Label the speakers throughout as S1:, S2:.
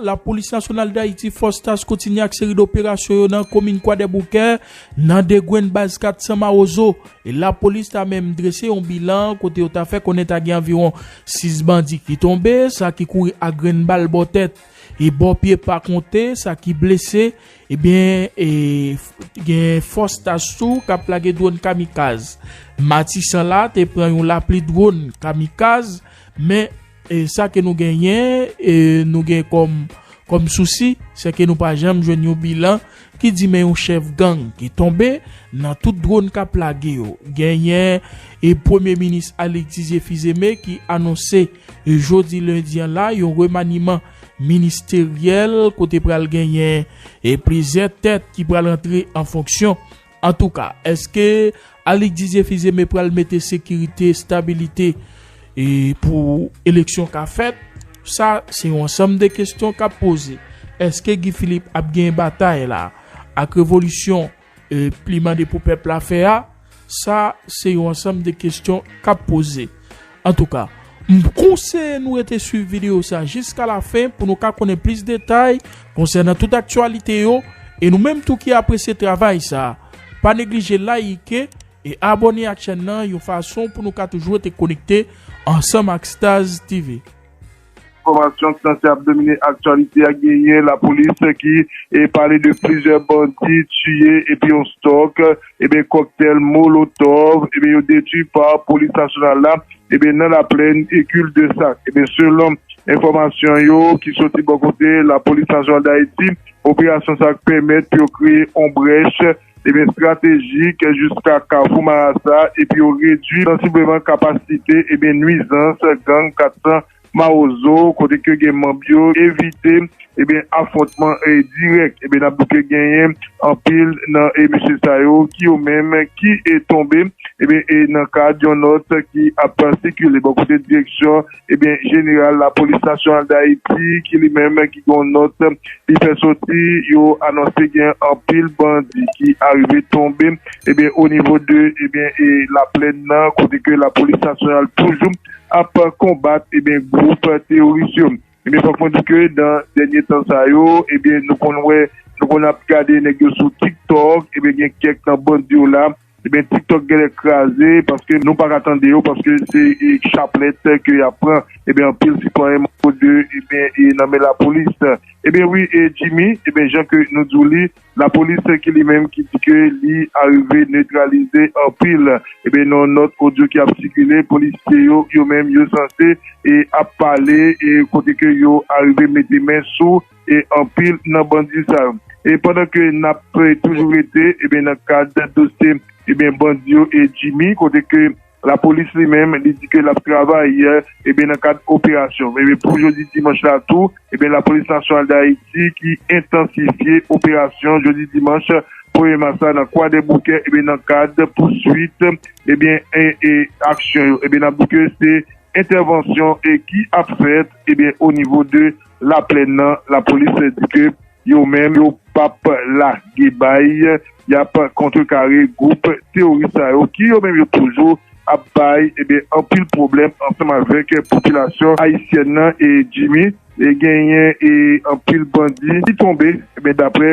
S1: Lapolis Nasyonal Dayiti, Fòs Task kontinye ak seri doperasyon yo nan komin Kwadèboukè, nan 2 gwenn baz 400 Mawozo. E lapolis ta menm drese yon bilan kote yo ta fè konnen ta gen anviwon 6 bandi ki tonbe, sa ki kouri ak grenn bal bò tèt e bò pye pa konte sa ki blese. Ebyen gen Fòs Task tou kap lage dwòn kamikaz. Matisan la te pran yon lapli dwòn kamikaz men E sa ke nou genyen, e nou gen kòm kòm sousi, sè ke nou pa janm jwenn yon bilan ki di men yon chèf gang ki tonbe nan tout dronn kap lage yo. Genyen e premye minis Alix Didier Fils-Aimé ki anonse jodi lendi an la yon remaniman ministeryèl kote pral genyen e plizyè tèt ki pral antre an fonksyon. Antouka, eske Alick Didier Fils-Aimé pral mete sekirite, stabilite pou eleksyon ka fèt? Sa se yon ansanm de kestyon kap poze. Eske Guy Philippe ap genyen batay la ak revolisyon li mande pou pèp la fè a? Sa se yon ansanm de kestyon kap poze. Antouka, m konseye nou rete swiv videyo sa jiska lafen pou nou ka konnen plis detay konsènan tout aktyalite yo e nou menm tou ki apresye travay sa, pa neglije layike e abòne ak chèn nan yon fason pou nou ka toujou rete konekte ansanm ak Stazz TV. Enfòmasyon
S2: k sanse ap domine aktyalite a genyen lapolis ki pale de plizyè bandi tiye epi yon stòk ebyen kòktèl molotòv ebyen yo detwi pa polis nasyonal la ebyen nan laplèn kil de sak ebyen selon enfòmasyon yo ki soti bò kote lapolis nasyonal dayiti operasyon sa pèmèt pou yo kreye yon brèch Ebyen estratejik jiska Kafou Marasa epi yo redwi sansibleman kapasite ebyen nwizans gang 400 Mawozo kote ke gen manb yo evite ebyen afwontman dirèk ebyen nap di ke genyen anpil nan mesye sa yo ki yo menm ki tonbe ebyen nan kad yon nòt ki ap sikile bò kote direksyon Ebyen jeneral lapolis nasyonal Dayiti ki li menm ki gen yon nòt li fè soti yo anonse gen anpil bandi ki arive tonbe ebyen o nivo de ebyen e laplèn nan kote ke lapolis nasyonal toujou ap konbat ebyen gwoup teyoris yo. Ebyen fòk mwen di ke nan dènye tan sa yo ebyen nou konn wè nou konn ap gade nèg yo sou tik tòk ebyen gen kèk nan bandi yo la Ebyen tiktok gèlè kraze paske nou paka tande yo paske se chaplèt ke yap pran ebyen anpil sitwayen manbo 2 ebyen nan men lapolis ebyen wi Jimmy ebyen jan ke nou diw li lapolis ki li menm ki di ke li arive netralize anpil ebyen nan yon nòt odyo ki ap sikile polisye yo yo menm yo sanse ap pale kote ke yo arive mete men sou e anpil nan bandi sa yo. E pandan ke nap toujou rete ebyen nan kad dosye ebyen bandi yo e Jimmy kote ke lapolis li menm li di ke lap travay ebyen nan kad operasyon ebyen pou jodi dimanch la tou ebyen lapolis nasyonal dayiti ki entansifye operasyon jodi dimanch premye mas la nan kwadèboukè ebyen nan kad pouswit ebyen e aksyon yo ebyen nap di ke se entèvansyon e ki ap fèt ebyen onivo de Laplèn nan, lapolis di ke yo menm yo pap lage bay, yap kontrekare gwoup teworis sa yo ki yo menm yo toujou ap bay ebyen anpil pwoblèm ansanm avèk popilasyon ayisyèn nan e Jimmy e genyen e anpil bandi ki tonbe ebyen daprè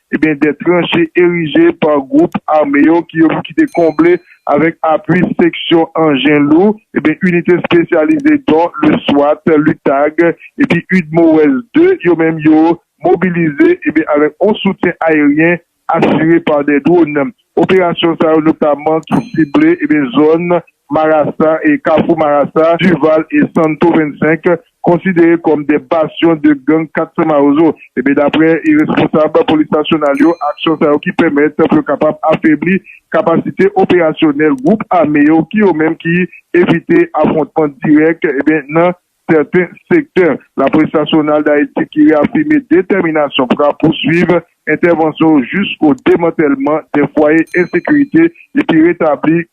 S2: Ebyen de tranche erije pa gwoup ame yo ki yo ki te konble avèk apui seksyon anjen lou, ebyen inite espesyalize don le swat, lutag epi udmowes ii yo menm yo mobilize ebyen avèk on soutyen aeryen asire pa de dwonn. Operasyon sa yo notaman ki sible zòn Marasa e Kafou Marasa, Duval e Santo 25, konsidere kòm 2 basyon de gang 400 Mawozo. Daprè responsab polis nasyonal yo, aksyon sa yo ki pèmèt pou yo kapab afebli kapasite operasyonèl gwoup ame yo ki yo menm ki evite afwontman dirèk nan sèten sektè laprès nasyonal Dayiti ki reyafime detèminasyon pou rapouswiv entèvansyon yo jisko demantèlman dè fwaye ensekirite epi retabli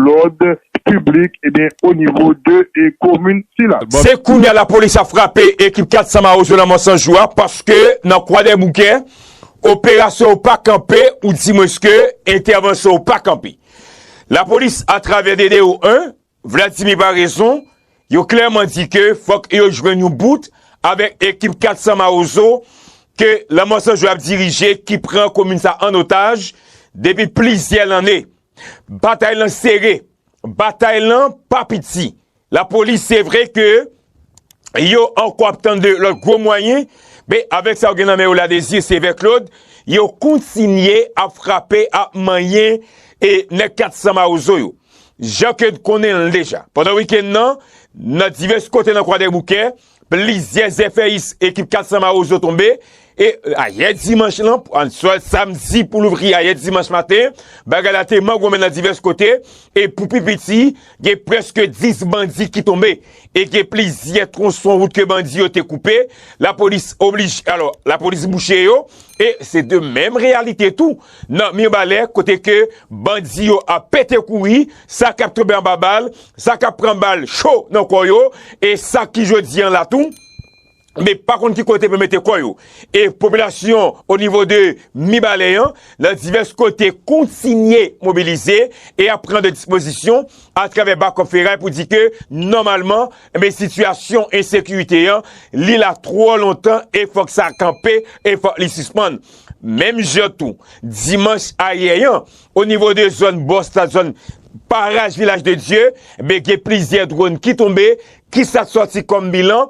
S2: lòd piblik onivo de komin sila. Se kounye a lapolis
S3: ap frape ekip 400 mawozo lanmò san jou a paske nan Kwadèboukè operasyon yo pa kanpe oudimwenske entèvansyon yo pa kanpe. Lapolis atravè DDO 1. Vladimir pa rezon, yo klèman di ke fòk yo jwenn yon bout avèk ekip 400 mawozo ke lanmò san jwe ap dirije ki pran komin sa an otaj depi plizyè lanne. Batay lan sere, batay lan pa piti, lapolis se vre ke. yo ankò ap tann de lòt gwo mwayen, men avèk sa yo gen nan men yo la dezi sevè klod, yo kontinye ap frape ap manyen e nèg 400 mawozo yo. Jan ke n konnen l deja, pandan wikenn nan, nan divès kote nan kwadèboukè, plizyè zèfèyis ekip 400 mawozo tonbe, E ayè dimanch lan, answa samdi pou louvri ayè dimanch maten, bagay la te mangonmen nan divès kote, e pou pi piti, gen prèske 10 bandi ki tonbe, e gen plizyè twonson wout ke bandi yo te koupe, lapolis oblij, alò, lapolis bouche yo, e se de menm reyalite tou, nan Mirbalè, kote ke bandi yo ap pete kouri, sa kap tonbe anba bal, sa kap pran bal cho nan kò yo, e sa ki jodi an la tou, me pa konn ki kote pou mete kò yo. E popilasyon o nivo de Mibalè an nan divès kote kontinye mobilize e ap pran de dispozisyon a travè Bakòp Feray pou di ke nòmalman me sitiyasyon ensekirite an li la twò lontan e fòk sa kanpe e fòk li sispann. Menm jan tou, dimanch ayè an, o nivo de zòn Bòs la, zòn Baraj Vilaj de Dye, me gen plizyè dronn ki tonbe, ki sa k sòti kòm bilan?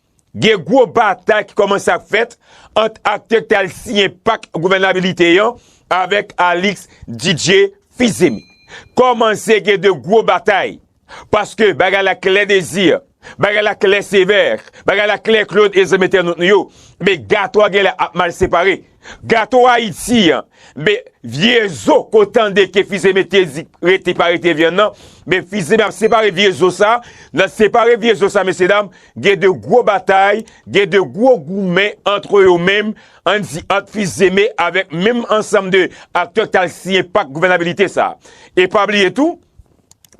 S3: Gen gwo batay ki kòmanse ap fèt ant aktè ki te al siyen pak gouvènabilite an avèk Alix Didier Fils-Aimé. Kòmanse gen de gwo batay paske bagay la klè Désir, bagay la klè Sévère, bagay la klè Claude et zòm entènot nou yo, men gato a genlè ap mal separe. Gato ayiti an be vye zo ko tande ke fize mete di rete pa rete vyann nan be fize ap separe vye zo sa nan separe vye zo sa mesye dam gen de gwo batay gen de gwo goumen antre yo menm an di ant fizeme avek menm ansanm de aktè ki tal siyen pak gouvènabilite sa e pa bliye tou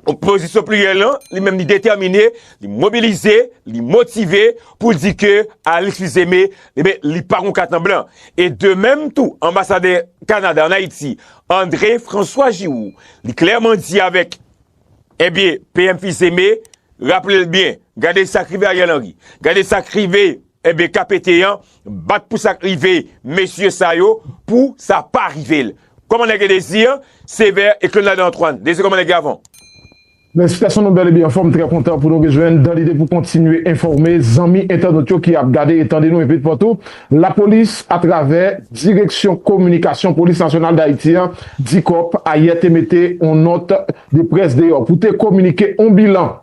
S3: Opozisyon pliryèl lan, li menm li detèmine, li mobilize, li motive pou l di ke Alix Fils-Aimé, enben, li pa gon kat an blan. E de menm tou, anbasadè Kanada an Ayiti, André François Giroux, li klèman di avèk, enben, PM Fils-Aimé, raple l byen, gade sa k rive Ariel Henry, gade sa k rive, Ebyen KPT an bat pou sak rive mesye sa yo pou sa pa rive l. Koman nèg yo Desir, Sévère et Claude Ladan Antoine. Desir koman nèg yo avan w? Mèsi
S4: gason nou bèl epi anfòm trè kontan pou nou rejwenn dan lide pou kontinye enfòme zanmi entènot yo ki ap gade e tande nou epi dpatou lapolis atravè direksyon kominikasyon polis nasyonal dayiti an dicop ayè te mete on nòt de près deyò pou te kominike on bilan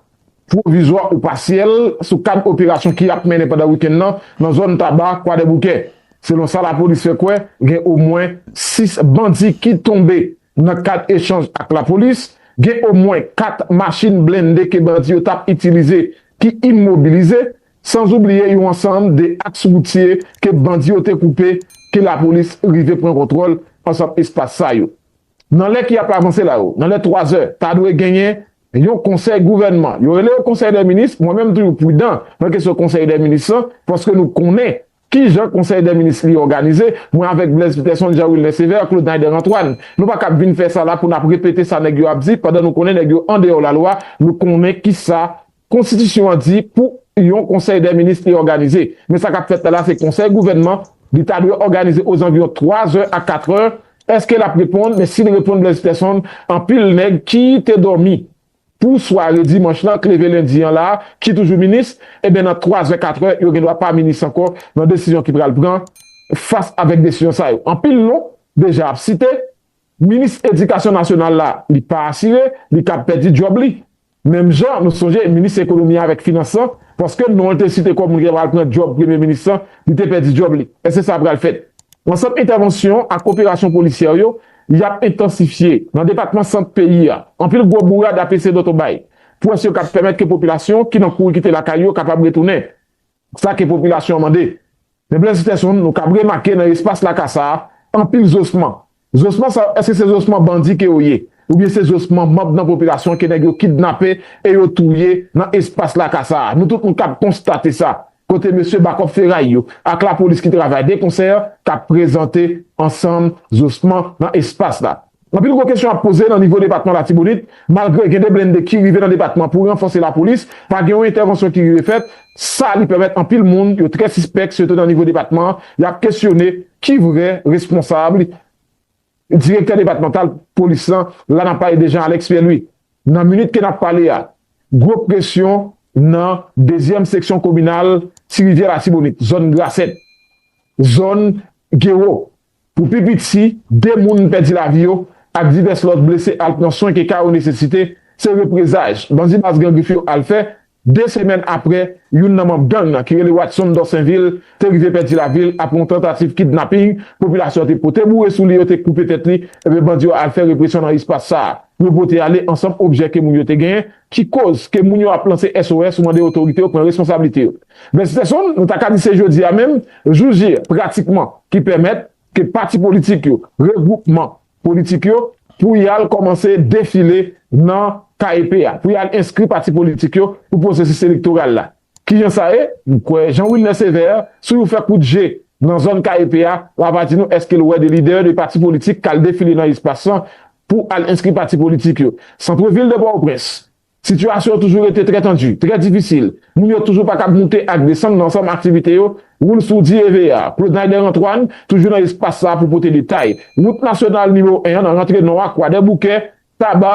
S4: pwovizwa ou pasyèl sou kad operasyon ki ap mennen pandan wikenn nan nan zòn Taba, Kwadèboukè. Selon sa lapolis fè kwè, gen omwen 6 bandi ki tonbe. Nan kad echanj ak lapolis, gen omwen 4 machin blende ke bandi yo tap itilize ki imobilize, sanzoubliye yon ansanm de aks woutye ke bandi yo te koupe ke lapolis rive pran kontwòl ansanm espas sa yo. Nan lè ki ap avanse la yo, nan lè 3 zè, ta dwe genyen yon konsèy gouvènman. Yo rele yo konsèy dè minis, mwen menm m toujou pridan nan kesyon konsèy dè minis lan, paske nou konnen ki jan konsèy dè minis li òganize, mwen avèk Blaise Peterson, Jean Wilner Sévère, Claude Naider Antoine. Nou pa kab vin fè sa la pou n ap repete sa nèg yo ap di pandan nou konnen nèg yo andeyò lalwa, nou konnen kisa Konstitisyon an di pou yon konsèy dè minis te òganize. Men sa k ap fèt la la se konsèy gouvènman, li ta dwe òganize ozanviwon twa zè a katrè. Èske l ap reponn? Men si l reponn Blaise Pèsonn, anpil nèg ki te dòmi pou sware dimanch lan k leve lendi an la, ki toujou minis, enben nan twa zè katrè yo gendwa pa minis ankò nan desizyon ki pral pran fas avèk desizyon sa yo. Anpil non deja ap site. Minis edikasyon nasyonal la, li pa asire, li kab pèdi djòb li. Menm jan, nou sonje, minis ekonomi avèk finans lan, paske non l te site kòm moun ki ta pral pran djòb premye minis lan, li te pèdi djòb li. Èske sa pral fèt? Ansanm entèvansyon ak operasyon polisyè yo, y ap entansifye. Nan depatman sant peyi a, anpil gwo bourad ap eseye dòtobay. Pwès yo kab pèmèt ke popilasyon ki nan kouri kite lakay yo kapab retounen. Sa ke popilasyon an mande. Men Blaise Peterson, nou kab remake nan espas laka sa a, anpil zosman. Zosman sa yo, èske se zosman bandi ke yo ye? Oubyen se zosman manb nan popilasyon ke nèg yo kidnape e yo touye nan espas laka sa a? Nou tout nou kab konstate sa. Kote mesye bakòp feray yo ak lapolis ki travay de konsè kab prezante ansanm zosman nan espas la? Anpil gwo kesyon ap poze nan nivo depatman Latibonit, malgre gen 2 blennde ki rive nan depatman pou ranfòse lapolis, pa gen yon entèvansyon ki rive fèt, sa li pèmèt anpil moun yo trè sispèk sitou nan nivo depatman an, y ap kesyone ki vrè responsab Direktè depatmantal polis lan la n ap pale de Jean Alex Pierre Louis. Nan minit ke n ap pale a, gwo presyon nan dezyèm seksyon kominal Ti Rivyè Latibonit, zòn Grasèt, zòn Gewo, Pou pi piti, 2 moun pèdi lavi yo ak divès lòt blese al pran swen ke ka yo nesesite, se reprezaj bandi baz Gran Grif yo al fè 2 semèn apre youn nan manb gang nan ki rele Watson Dorsainville te rive pèdi lavi l apre yon tantativ kidnaping popilasyon an te pote boure sou li yo te koupe tèt li, ebyen bandi yo al fè represyon nan espas sa a yo pote ale ansanm objè ke moun yo te genyen ki koz ke moun yo ap lanse SOS ou mande otorite yo pran responsablite yo. Vèsitèson, nou ta ka di se jodi a menm, jou J, pratikman, ki pèmèt ke pati politik yo, regwoupman politik yo, pou y al kòmanse defile nan KEP a, pou y al enskri pati politik yo pou pwosesis elektoral la. Kijan sa ye? M kwè Jean Wilner Sévère si w fè kout je nan zòn KEP a, w a va di nou èske l wè de lidè de pati politik k al defile nan espas lan pou al enskri pati politik yo. Centre ville de Port-au-Prince, sitiyasyon an toujou rete trè tandi, trè difisil. Moun yo toujou pa kab moute ak desann nan ansanm aktivite yo. Woul Sourdi Evea, Claude-Naider Antoine, toujou nan espas sa a pou pote detay. Wout nasyonal nimewo 1 an nan rantre nò a, Kwadèboukè, Taba,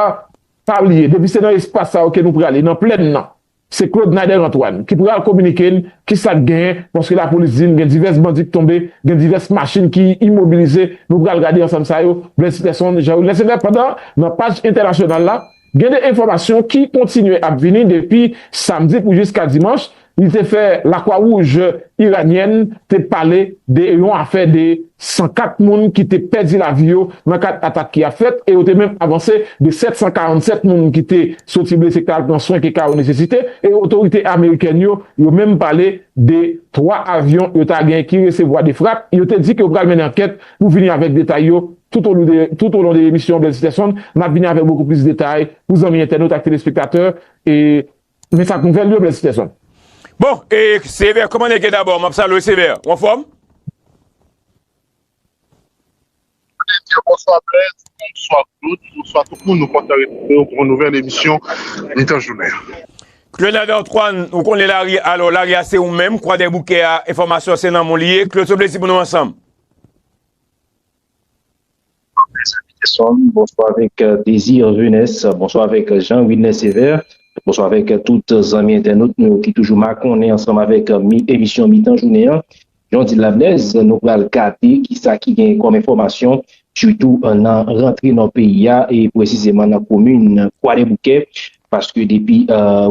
S4: pa bliye. Depi se nan espas sa yo ke nou prale, nan plèn nan. Se Claude Nader Antoine ki pral kominike n ki sa k genyen paske lapolis di n gen divès bandi k tonbe, gen divès machin ki imobilize, nou pral gade ansanm sa yo, Blaise Peterson, Jean Wilner Sever pandan nan paj entènasyonal la gen 2 enfòmasyon ki kontinye ap vini depi samdi pou jiska dimanch li te fè Lakwa Wouj Iranyèn te pale de yon afè de 104 moun ki te pèdi lavi yo nan kad atak ki ap fèt e yo te menm avanse de 747 moun ki te soti blese ka al pran swen ke ka yo nesesite e otorite amerikèn yo yo menm pale de 3 avyon yo ta gen ki resevwa 2 frap yo te di ke yo pral mennen ankèt pou vini avèk detay yo toutolon de emisyon Bèlsiterson nap vini avèk bokou plis detay pou zanmi entènot ak telespektatè e Men sak nouvel yo bless Pearson. Bon e
S3: Sévère koman nèg ye dabò map salwew Sévère ou anfòm?
S2: Bondye diw bonswa bless bonswa Claude bonswa tout moun nou kontan retrouvew pou yon nouvèl emisyon mitan jounen an. Cleunade
S3: Antoine ou konnen lari alò lari a se ou menm kwadèboukè a enfòmasyon se nan menw li ye Claude se plezi pou nou ansanm.
S5: Bonswa Mezanmi Desmond bonswa avèk Désir Venès bonswa avèk Jean Wilner Sévère bonswa avèk tout zanmi entènot nou yo ki toujou makonnen ansanm avèk emisyon mitan jounen an jan w di l la Blaise nou pral gade kisa ki genyen kòm enfòmasyon sitou nan rantre nò peyi a e presizeman nan komin Kwadèboukè Paske depi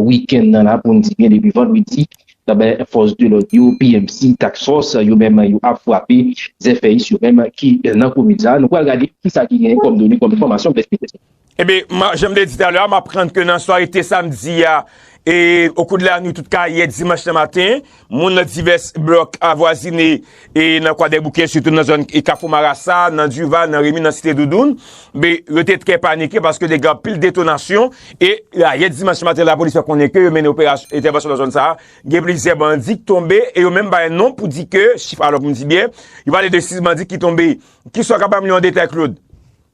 S5: wikenn nan la pou n di byen depi vandredi ebyen fòs de lòd yo PMC, Task Force yo menm yo ap frape zèfèyis yo menm ki nan komin sa a. Nou pral gade kisa ki genyen kòm done, kòm enfòmasyon blèz pete. Ebyen
S3: jan m te di talè a m aprann ke nan sware te samdi a e okou de lanwit tout ka yè dimanch nan maten, Moun nan divès blòk avwazine e nan Kwadèboukè sitou nan zòn Kafou Marasa, nan Duval, nan Remi, nan Site Doudoun, be, yo te trè panike paske te gen anpil detonasyon e ayè dimanch maten lapolis fè konnen ke yo mennen operasyon entèvansyon nan zòn sa a, gen plizyè bandi ki tonbe e yo menm bay non pou di ke chif alò pou m di byen, yo pale de 6 bandi ki tonbe. Kisa w kapab m li yon detay Claude?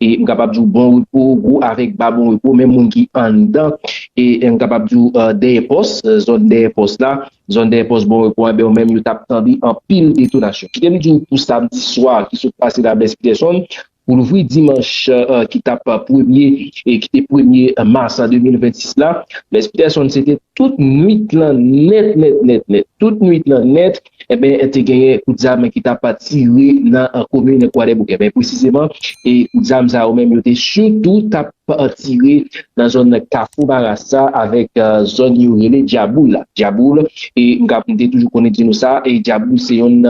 S5: M kapab di w bon repo, gwo avèk ba bon repo, menm moun ki anndan, m kapab di w dèyè pòs, zòn dèyè pòs la, zòn dèyè pòs bon repo, yo menm yo t ap tande anpil detonasyon. Kite m di w pou samdi swa ki sot pase la Blaise Peterson, pou louvri dimanch ki t ap premye, ki te premye mas 2026 la, Blaise Peterson se te tout nwit lan nèt nèt nèt nèt, tout nwit lan nèt, Enben, te genyen kout zam ki t ap tire nan komin Kwadèboukè. Men presizeman, kout zam sa yo menm yo te sitou t ap tire nan zòn Kafou Marasa avèk zòn yo rele Dyaboul la. Dyaboul, m te toujou konn di nou sa, Dyaboul se youn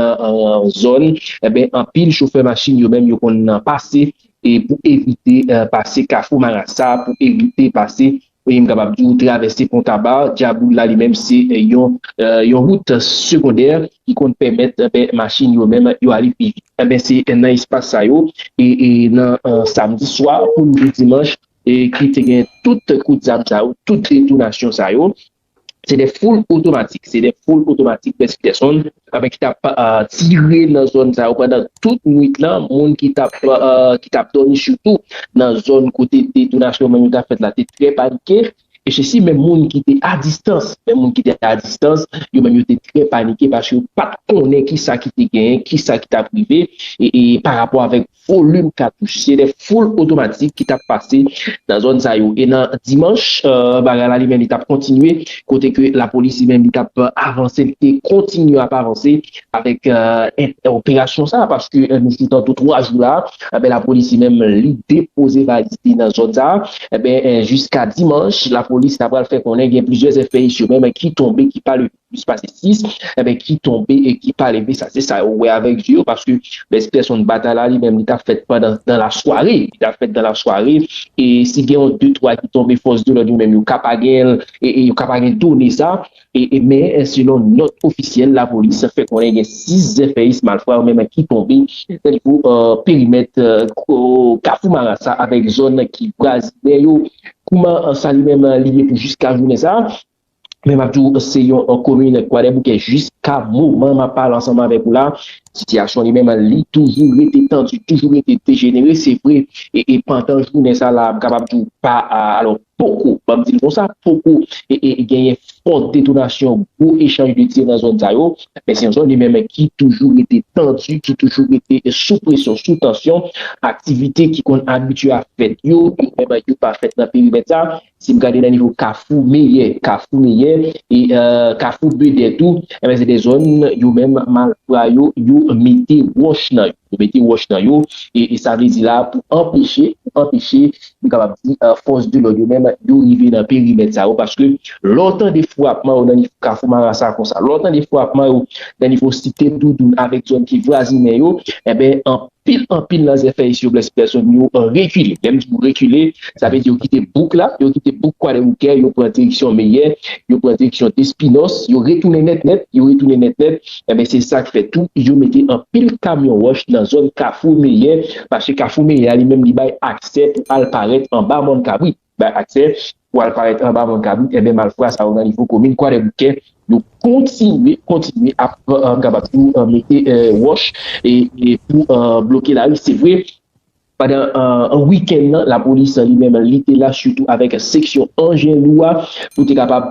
S5: zòn anpil chofè machin yo menm yo konn pase pou evite pase Kafou Marasa, pou evite pase Wi m kapab di w travèse pon Taba, Dyaboul la li menm se yon yon wout segondè ki konn pèmèt machin yo menm yo ale pi vit. Enben se nan espas sa yo e e nan samdi swa pou rive dimanch ki te gen tout kout zam sa yo, tout detonasyon sa yo Se de foul otomatik, se de foul otomatik pèsi pèson, apen ki tap tire nan zòn sa yo pandan tout nwit lan, moun ki tap ki tap dòmi sitou nan zòn kote detonasyon menm yo tap fèt la te trè panike, e se si menm moun ki te a distans, menm moun ki te a distans, yo menm yo te trè panike paske yo pat konnen kisa ki te genyen, kisa ki tap rive, e parapò avèk. Volim katouch se de foul otomatik ki tap pase nan zòn sa yo e nan dimanch bagay la li menm li tap kontinye kote ke lapolis li menm li tap avanse li te kontinye ap avanse avèk operasyon sa paske nou sou tantou 3 jou la enben lapolis li menm li depoze valiz li nan zòn sa enben jiska dimanch lapolis ta pral fè konnen gen plizyè zèfèyis yo menm ki tonbe ki pa leve. plis pase 6 enben ki tonbe e ki pa leve sa se sa yo wè avèk zye yo paske bèspèsonn batay la li menm li ta fèt pandan dan la sware li ta fèt dan la sware e si gen yon de twa ki tonbe fòs de lòd yo menm yo ka pa gen l e yo ka pa gen done sa e men selon nòt ofisyèl lapolis fè konnen gen 6 zèfèyis malfra yo menm ki tonbe nan nivo perimèt kafou marasa avèk zòn ki vwazinè yo kouman sa li menm li ye pou jiska jounen sa men map di w se yon komin kwadèboukè jiska moman map pale ansanm avèk ou la sitiyasyon li menm li toujou rete tandi toujou rete dejenere se vre e pandan jounen sa la m kapab di w pa alò poko banm di l konsa poko e genyen fò detonasyon gwo echanj de tir nan zòn sa yo men se yon zòn li menm ki toujou rete tandi ki toujou rete sou presyon sou tansyon aktivite ki konn abitye ap fèt yo yo menm yo pa fèt nan perimèt sa Si m gade nan nivo kafou meyè, kafou meyè, e kafou bedè tou, enben se de zòn yo menm malfra yo, yo mete wòch nan yo. Yo mete wòch nan yo, e sa vle di la pou anpeche, pou anpeche, m kapab di fòs de lòd yo menm yo rive nan perimèt sa yo, paske lè w tande frapman yo nan nivo kafou marasa konsa, lè w tande frapman yo nan nivo site doudoun avèk zòn ki vwazinen yo, enben Pil anpil nan zèfèy siwoplè si pèsonn yo rekile. Lè m di yo rekile, sa vle di yo kite bouk la, yo kite bouk Kwadèboukè, yo pran direksyon Meyè, yo pran direksyon Despinòs, yo retounen nèt nèt, yo retounen nèt nèt. Enben se sa k fè tou yo mete anpil kamyon wòch nan zòn Kafou Meyè, paske Kafou Meyè a li menm li bay aksè pou al parèt anba Mòn Kabrit. bay aksè pou al parèt anba van kabrit enben malfra sa yo nan nivo komin kwadèboukè yo kontinye kontinye ap kapab di w mete wòch pou bloke lari se vre pandan wikèn nan lapolis li menm li te la sitou avèk seksyon anjen lou a pou te kapab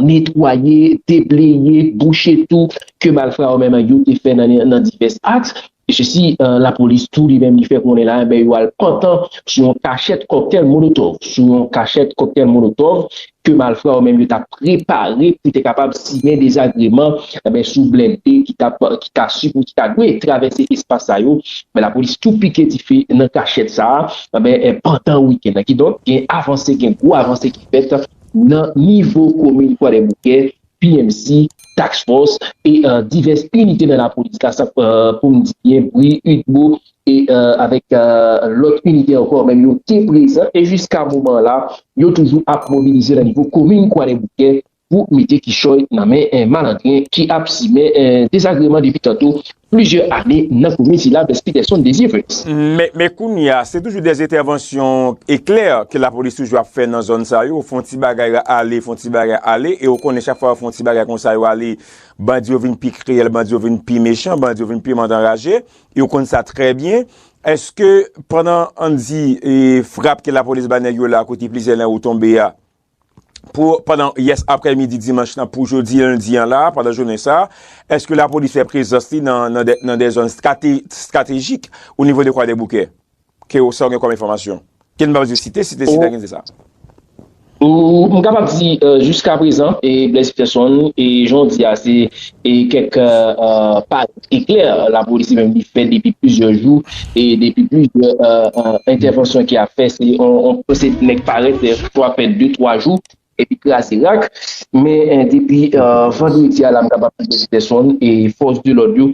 S5: netwaye debleye bouche tou ke malfra yo menm yo te fè nan divès aks Se si lapolis tou li menm li fè konnen la enben yo al pantan sou yon kachèt kòktèl molotòv, sou yon kachèt kòktèl molotòv ke malfra yo menm yo ta prepare pou te kapab simen dezagreman enben sou blende ki tap ki ta sipo ki ta dwe travèse espas sa yo enben lapolis tou pike dife nan kachèt sa enben pandan wikenn nan kidonk gen avanse gen gwo avanse ki fèt nan nivo komin kwadèboukè PMC, Task Force e divès inite nan lapolis la sa pou m di byen bri, udmo e avèk lòt inite ankò menm yo te prezan e jiska moman la yo toujou ap mobilize nan nivo komin Kwadèboukè pou mete kichòy nan men malandren ki ap simen dezagreman depi tanto Plizyè ane nan komin sila Mès Peterson Désir Felix. Men kounye
S3: a, se toujou dè entèvansyon eklè ke lapolis toujou ap fè nan zòn sa yo, fon ti bagay ale, fon ti bagay ale, e ou konnen chak fwa yo fon ti bagay konsa yo ale, bandi yo vin pi kriyèl, bandi yo vin pi mechan, bandi yo vin pi mandanraje, e ou konn sa trè byen. Eske pandan an di frap ke lapolis ba nèg yo la kote plizyè nan yo tonbe a, pou pandan yès aprè midi dimanch nan pou jodi lendi an la, pandan jounen sa, eske lapolis fè prezans li nan de zòn stratejik ou nivo de kwadèboukè? Ke ou sa ou gen kòm enfòmasyon? Ke nou pa di site, site site a gen di sa.
S5: M kapab di jiska prezan, e Blaise Peterson, e jan ou di a se kèk pa E klè, lapolis li menm li fè depi plizyè jou, e depi plizyè entèvansyon ki ap fè, se yon pwosedi nèg parèt pou ap fè de twa jou, epi kraze rak, men depi vandredi a la m kapab di Mèsi Pèsonn, e fòs de lòd yo,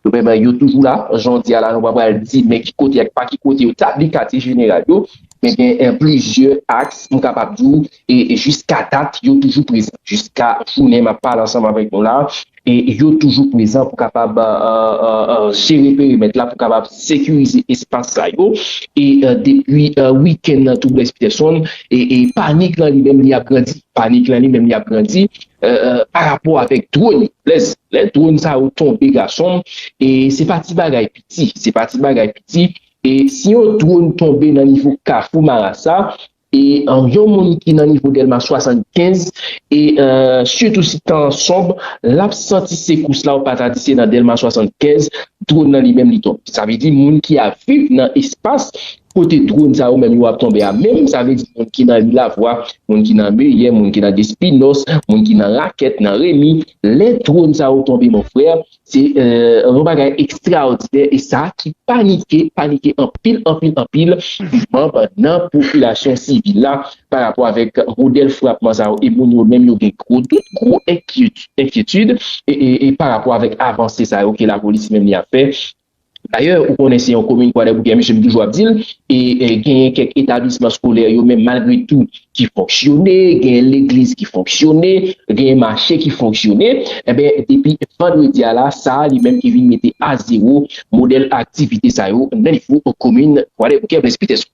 S5: vrèman yo toujou la, jan w di a la, nou pa pral di men ki kote ak pa ki kote yo tabli katye jeneral yo, men gen plizyè aks m kapab di w. e jiska dat yo toujou prezan jiska jounen map pale ansanm avèk nou la e yo toujou prezan pou kapab jere perimèt la pou kapab sekirize espas sa yo e depi wikenn nan tou Blaise Peterson e panik lan li menm li ap grandi panik lan li menm li ap grandi pa rapò avèk dron yo Blaise lè dron sa yo tonbe gasonm e se pa ti bagay piti se pa ti bagay piti e si yon dron tonbe nan nivo kafou marasa. E yon moun ki nan nivo Dèlma 75 e sitou si tan an sonb, l ap santi sekous la ou pa ta di se nan Dèlma 75 dwòn nan li menm li tonbe. Sa vle di moun ki ap viv nan espas kote dwòn sa yo menm yo ap tonbe a menm, sa vle di moun ki nan ri Lavwa, moun ki nan Meyè, moun ki nan Despinòs, moun ki nan Rakèt, nan Remi, lè dwòn sa yo tonbe mon frè, Se yon bagay ekstraòdinè e sa ki panike, panike anpil, anpil, anpil manb nan popilasyon sivil la pa rapò avèk modèl frapman sa yo e moun yo menm yo gen gwo dout, gwo enkyetid e pa rapò avèk avanse sa yo ke lapolis menm li ap fè Dayè, ou konnen se yon komin Kwadèboukè mesye m toujou ap di l, e genyen kèk etablisman skolè yo menm malgre tou ki fonksyone, genyen legliz ki fonksyone, genyen mache ki fonksyone, enben depi vandredi a la sa li menm ki vin mete a zewo modèl aktivite sa yo nan nivo komin Kwadèboukè Blaise Peterson.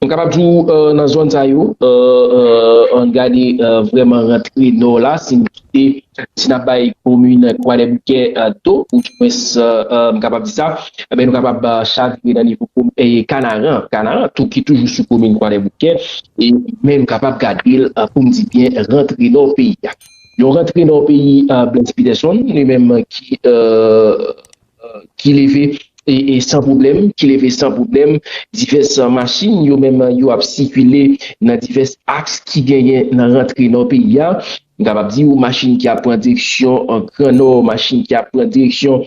S5: M kapab di w nan zòn sa yo, an gade vrèman rantre nò la, si n kite, si n ap bay komin Kwadèboukè do, ou di mwens m kapab di sa, enben nou kapab chavire nan nivo Kanaran, Kanaran tou ki toujou sou komin Kwadèboukè, men nou kapab gade l pou m di byen rantre nò peyi a. Yon rantre nò peyi Blaise Peterson li menm ki. ki leve san pwoblèm, ki leve san pwoblèm, divès machin yo menm yo ap sikile nan divès aks ki genyen nan rantre nò peyi a, m kapab di ou machin ki ap pran direksyon gran nò, machin ki ap pran direksyon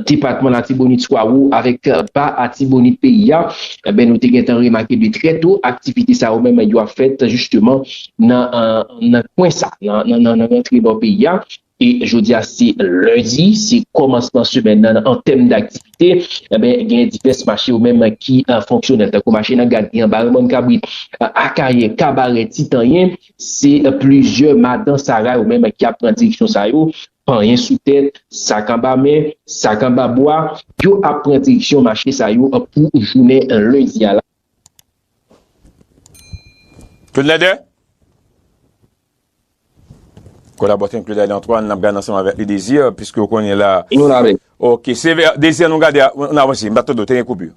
S5: depatman latibonit swa wo avèk ba atibonit peyi a, enben nou te gentan remake de trè to aktivite sa yo menm yo ap fèt jisteman nan kwen sa, nan rantre nò peyi a. E jodi a se lendi, se kòmansman semèn nan an tèm daktivite, enben gen divès mache yo menm ki fonksyonèl tankou mache nan Gadri an, Bare Mòn Kabrit, Akayè, Kabarè, Ti Tanyen, se plizyè madan sara yo menm ki ap pran direksyon sa yo, panyen sou tèt, sak anba men, sak anba bwa, yo ap pran direksyon mache sa yo pou jounen lendi a la.
S3: Fedleder, Kolaboratè n Claudade Antoine nap gad ansanm avèk li Désir piske ou konnen la. Nou la wi. Ok se vè Désir nou gade a nou avanse m pa tande w te gen koupi.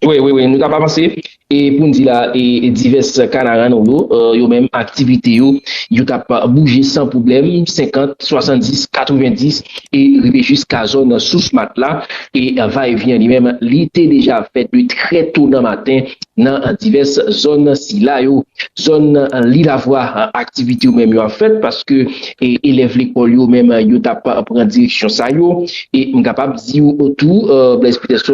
S3: Wi
S5: wi wi nou tap avanse e pou n di la e divès kanaran nou yo yo menm aktivite yo yo tap bouje san pwoblèm 50, 70, 90. e rive jiska zòn sous Matla e va e vyen li menm li te deja ap fèt de trè to nan maten nan divès zòn sila yo. Zòn Lilavwa aktivite yo menm yo ap fèt paske elèv lekòl yo menm yo t ap pran direksyon sa yo e m kapab di w tou Blaise Peterson,